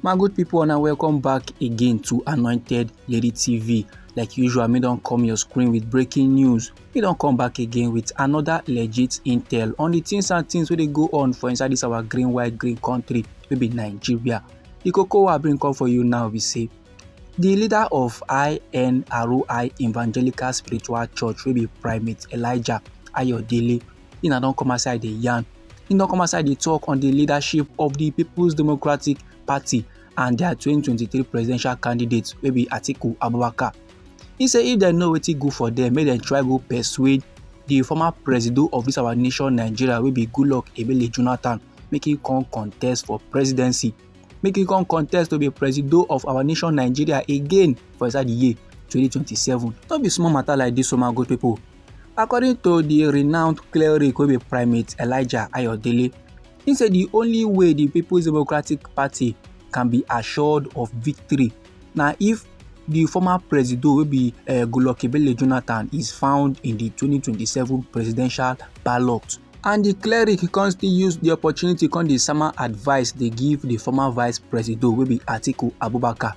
my good people and welcome back again to anointed lady tv like usual me don't come your screen with breaking news me don't come back again with another legit intel on the things and things where they go on for inside this our green white green country maybe nigeria the cocoa i bring come for you now we say the leader of inroi evangelical spiritual church will be primate elijah ayodele he na don come outside dey yarn he don come outside dey talk on the leadership of the people's democratic party and their 2023 presidential candidate wey be atiku abubakar he say if dem know wetin good for them make dem try go persuade the former presido of this our nation nigeria wey be goodluck ebele jonathan make he come contest for presidency make he come contest to be presido of our nation nigeria again for inside the year 2027 no be small matter like this o my good people According to di renowned cleric wey be primate Elijah Ayodele, he say di only way di People's Democratic Party can be assured of victory na if di former presido wey be eh, Goodluck Ebele Jonathan is found in di 2027 presidential ballot. And di cleric come still use di opportunity come dey sama advice dey give di former vice presido wey be Atiku Abubakar.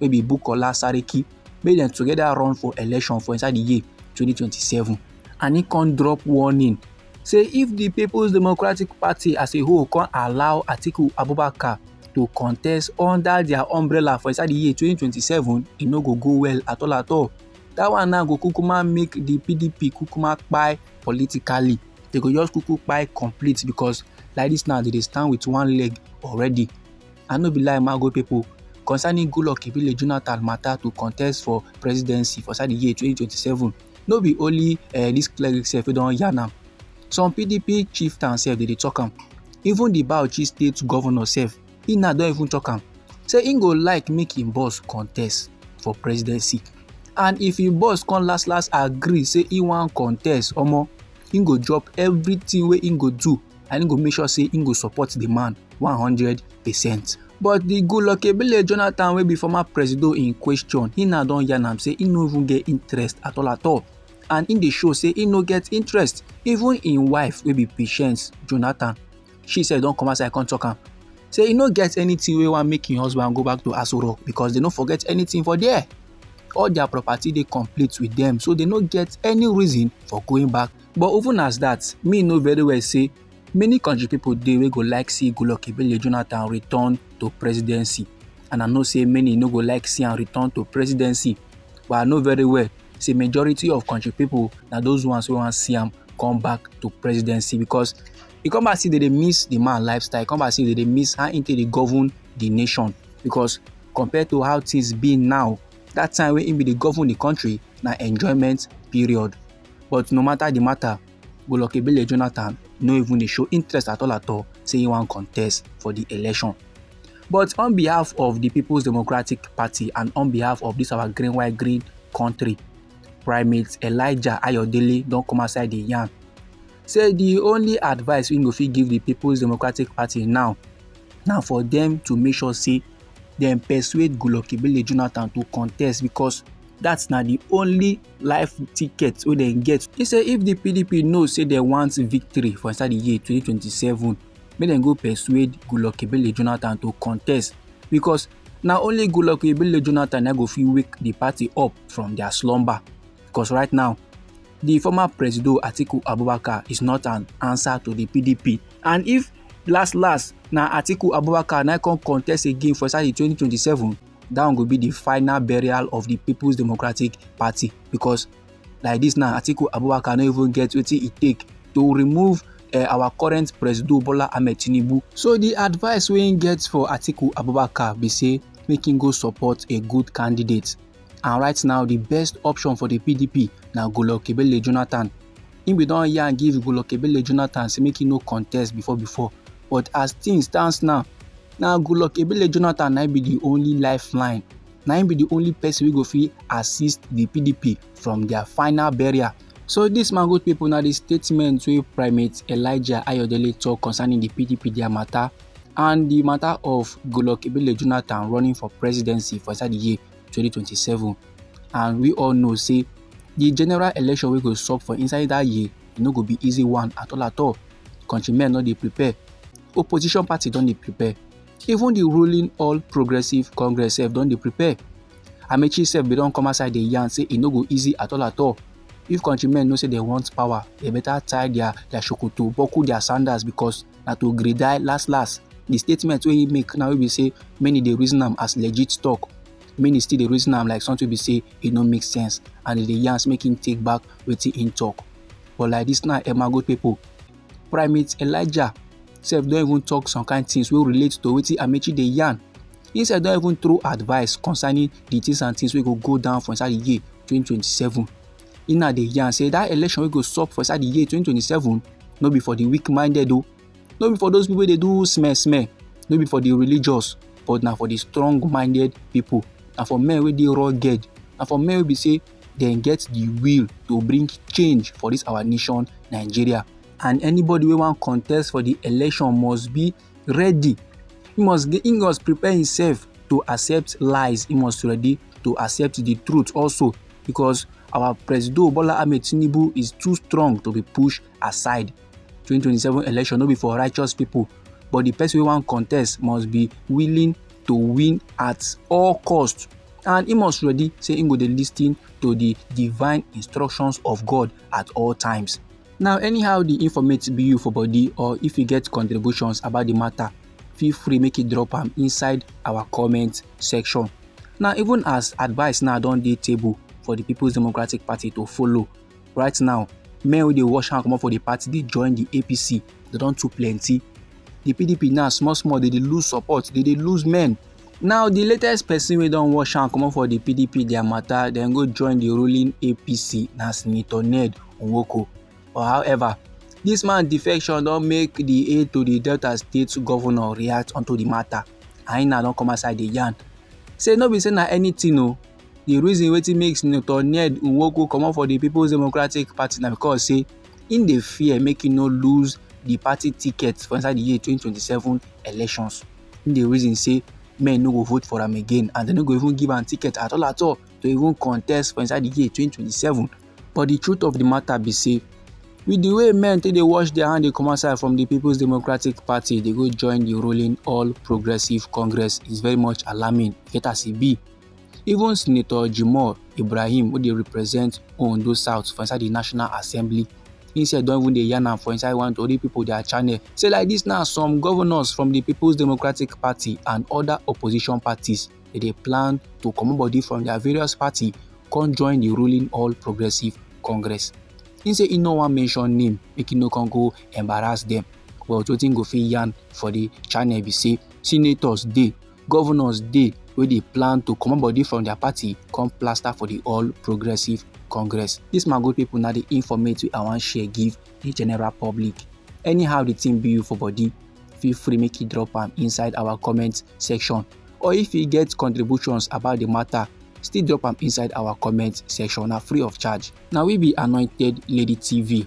wey be Bukola Saraki make dem together run for election for inside the year 2027 and he come drop warning say if the People's Democratic Party as a whole come allow Atiku Abubakar to contest under their umbrella for inside the year 2027 e no go go well at all at all that one now go kukuma make the PDP kukuma kpai politically they go just kuku kpai complete because like this now they dey stand with one leg already I no be lie Mago people concerning Goodluck Ebele Jonathan matter to contest for presidency for inside the year 2027. No be only uh, this cleric sef wey don yarn am. Some PDP chieftain sef dey dey talk am. Even the Bauchi state governor sef, he now don even talk am. Say he go like make him boss contest for presidency. And if him boss come last last agree say he wan contest, omo, he go drop everything wey he go do and im go make sure say im go support di man one hundred percent but di goodluck ebele jonathan wey be former presido in question he now don yarn am say he no even get interest at all at all and im dey show say im no get interest even im wife wey be patience jonathan she sef don come outside come talk am say e no get anything wey wan make im husband go back to asoro because they no forget anything for there all their property dey complete with them so they no get any reason for going back But even as that, me know very well say many country people dey wey go like see Goodluck Ebele Jonathan return to presidency and I know say many no go like see am return to presidency but I know very well say majority of country people na those ones wey wan see am come back to presidency because e come back say they dey miss the man lifestyle e come back say they dey miss how he take dey govern the nation because compared to how things be now that time wey he be dey govern the country na enjoyment period But no matter the matter, Goodluck Ebele Jonathan no even dey show interest at all at all say he wan contest for the election. But on behalf of the People's Democratic Party and on behalf of this our green white green country, Primate Elijah Ayodele don come outside the yarn say the only advice we go fit give the People's Democratic Party now na for them to make sure say dem persuade Goodluck Ebele Jonathan to contest because that's na the only life ticket wey dem get e say if di pdp know say dem want victory for inside di year 2027 make dem go persuade goodluck ebele jonathan to contest because na only goodluck ebele jonathan na go fit wake di party up from dia slumber because right now di former presido atiku abubakar is not an answer to di pdp and if last last na atiku abubakar na come contest again for inside di 2027 that one go be the final burial of the people's democratic party because like this now atiku abubakar no even get wetin e take to remove uh, our current president bola ahmed tinubu so the advice wey im get for atiku abubakar be say make im go support a good candidate and right now the best option for the pdp na golokebele jonathan im bin don yarn give golokebele jonathan say make im no contest before before but as things stands now na goodluck ebele jonathan na be the only lifeline na him be the only person wey go fit assist the pdp from their final burial so dis man good pipo na di statement wey primate elijah ayodele tok concerning di pdp dia mata and di mata of goodluck ebele jonathan running for presidency for inside di year 2027 and we all know say di general election wey go sup for inside dat year e no go be easy one at all at all countrymen no dey prepare opposition party don dey prepare even the ruling all progressive congress sef don dey prepare amechi sef bin don come outside dey yarn say e no go easy at all at all if countrymen know say they want power they better tie their their shokoto buckle their sandals because na to gree die last last the statement wey he make now wey be say many dey reason am as legit talk many still dey reason am like something be say e no make sense and e dey yarn make him take back wetin im talk but like this now emago people primate elijah sef don even talk some kind things wey relate to wetin amechi dey yarn he sef don even throw advice concerning the things and things wey go go down for inside the year 2027 he now dey yarn say that election wey go sup for inside the year 2027 no be for the weak minded o no be for those people wey dey do smell smell no be for the religious but na for the strong minded people na for men wey dey rugged na for men wey be say dem get the will to bring change for this our nation nigeria and anybody wey wan contest for the election must be ready he must he must prepare himself to accept lies he must ready to accept the truth also because our president bola ahmed tinubu is too strong to be pushed aside 2027 election no be for righteous people but the person wey wan contest must be willing to win at all cost and he must ready say he go dey lis ten to the divine instructions of God at all times. Now, anyhow the informate be you for body or if you get contributions about the matter, feel free make you drop am inside our comment section. Now, even as advice now don dey table for the People's Democratic Party to follow, right now men wey dey wash hand comot for the party dey join the apc they don too plenty the pdp now small small they dey lose support they dey lose men now the latest person wey don wash hand comot for the pdp their matter dem go join the ruling apc na senator ned nwoko but however this man defection don make the aide to the delta state governor react unto the matter and he now don come outside dey yarn say no be say na anything o oh, The reason wetin make Senator Ned Nwoko comot for the People's Democratic Party na because say im dey fear make im no lose the party ticket for inside the year 2027 elections. Im dey reason say men no go vote for am again and dem no go even give am ticket at all at all to even contest for inside the year 2027. But the truth of the matter be say with the way men take dey wash their hand dey come outside from the People's Democratic Party dey go join the ruling All Progressives Congress is very much alarming. Get as e be. Even Senator Jimoh Ibrahim wey dey represent Ondo South for inside the National Assembly he said don't even dey yarn am for inside one tori people their channel say like this now some governors from the people's democratic party and other opposition parties they dey plan to comot body from their various party come join the ruling all progressive congress he say he no wan mention name make he no come go embarrass them but wetin go fit yarn for the channel be say senators dey governors dey wey dey plan to comot body from their party come plaster for the all progressive congress this my good people na the informate wey i wan share give the general public anyhow the thing be you for body feel free make you drop am inside our comment section or if you get contributions about the matter still drop am inside our comment section na free of charge na we be anointed lady tv